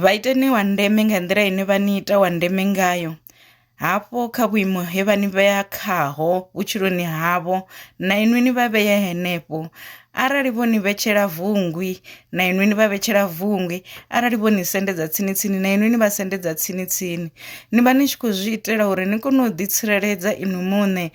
Vha iteni wa ndeme nga nḓila ine vha ni ita wa ndeme ngayo, hafho kha vhuimo he vha ni vhea khaho vhutshiloni havho, na inwi ni vha vhee henefho. Arali vho ni vhetshela vungwi, na inwi ni vha vhetshela vungwi, arali vho ni sendedza tsini tsini, na inwi ni vha sendedza tsini tsini. Ni vha ni tshi khou zwi itela uri ni kone u ḓi tsireledza inwi muṋe,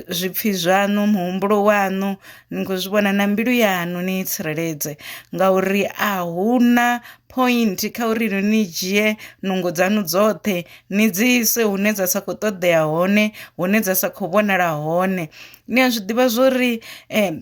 zwipfhi zwaṋu, muhumbulo waṋu, Ni khou zwi vhona na mbilu yaṋu ni i tsireledze ngauri a hu na point kha uri no ni dzhie nungo dzanu dzoṱhe ni dzi ise hune dza sa kho ṱoḓea hone hune dza sa kho vhonala hone ni a zwi ḓivha zwori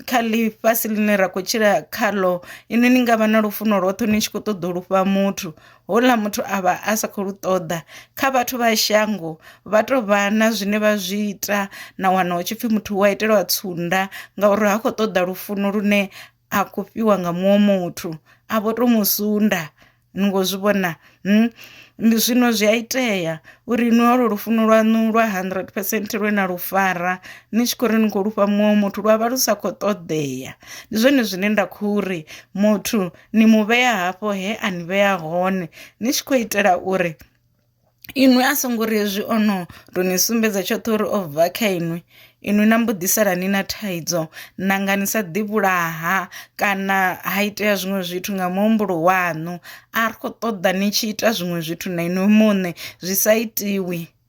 kha ḽifhasi ḽine ra khou tshila khaḽo inwi ni ngavha na lufuno lwoṱhe ni tshi kho ṱoḓa u lufha muthu houḽa muthu a vha a sa khou lu ṱoḓa kha vhathu vha shango vha tou vha na zwine vha zwi ita na wana hu tshi pfhi muthu wa itelwa tsunda ngauri ha khou ṱoḓa lufuno lune a khou fhiwa nga muṅwe muthu a vho to mu sunda ni ngo zwi vhona ndi zwino zwi a itea uri ni holo lufuno lwanu lwa hundred percent lwe na lu fara ni tshi khou ri ni khou lufha muṅwe muthu lwa vha lu sa khou ṱoḓea ndi zwone zwine nda khou ri muthu ni mu vhea hafho he a ni vhea hone ni tshi khou itela uri inwi a songo ri hezwi ono to ni sumbedza tshoṱhe uri o bva kha inwi inwi na mbo ḓi sala ni na thaidzo nanga ni sa ḓi vhulaha kana ha itea zwiṅwe zwithu nga muhumbulo waṋu a ri kho ṱoḓa ni tshi ita zwiṅwe zwithu na inwi muṋe zwi sa itiwi.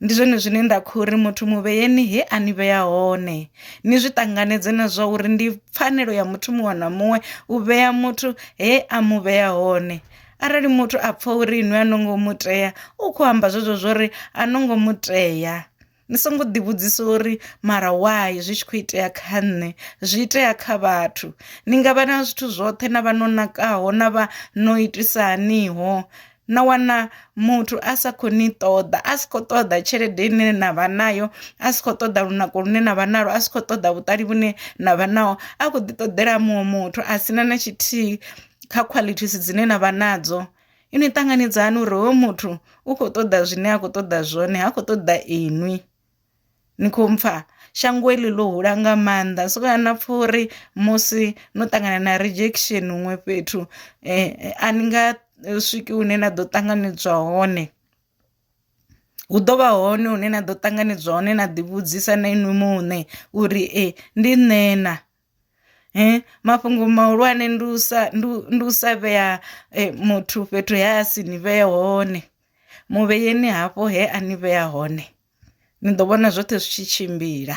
Ndi zwone zwine nda kho ri muthu mu vheyeni he a ni vhea hone ni zwi ṱanganedze na zwa uri ndi pfanelo ya muthu muṅwe na muṅwe u vhea muthu he a mu vhea hone. Arali muthu a pfha uri inwi a no ngo mu tea u kho amba zwezwo zwori a no ngo mu tea ni songo ḓi vhudzisa uri mara why zwi tshi kho itea kha nṋe zwi itea kha vhathu ni ngavha na zwithu zwoṱhe na vha no nakaho na vha no itisa haniho na wana muthu a sa kho ni ṱoḓa a si kho ṱoḓa tshelede ine na vha nayo a si kho ṱoḓa lunako lune na vha nalo a si kho ṱoḓa vhuṱali vhune na vha naho a kho ḓi ṱoḓela muṅwe muthu a sina na tshithihi kha qualities dzine na vha nadzo ini ṱanganedzani uri hoyo muthu u kho ṱoḓa zwine a khou ṱoḓa zwone ha khou ṱoḓa inwi. ni khou mpfha shango heḽi ḽo hula nga maanḓa so kana pfha uri musi no ṱangana na rejection huṅwe fhethu a ni nga swiki hune na ḓo ṱanganedzwa hone, hu ḓo vha hone hune na ḓo ṱanganedzwa hone na ḓi vhudzisa na inwi muṋe uri ee ndi nṋe na. Mafhungo mahulwane ndi u sa ndi u sa vhea muthu fhethu he a si ni vhee hone, mu vheyeni hafho he a ni vhea hone. ni ḓo vhona zwoṱhe zwi tshi tshimbila .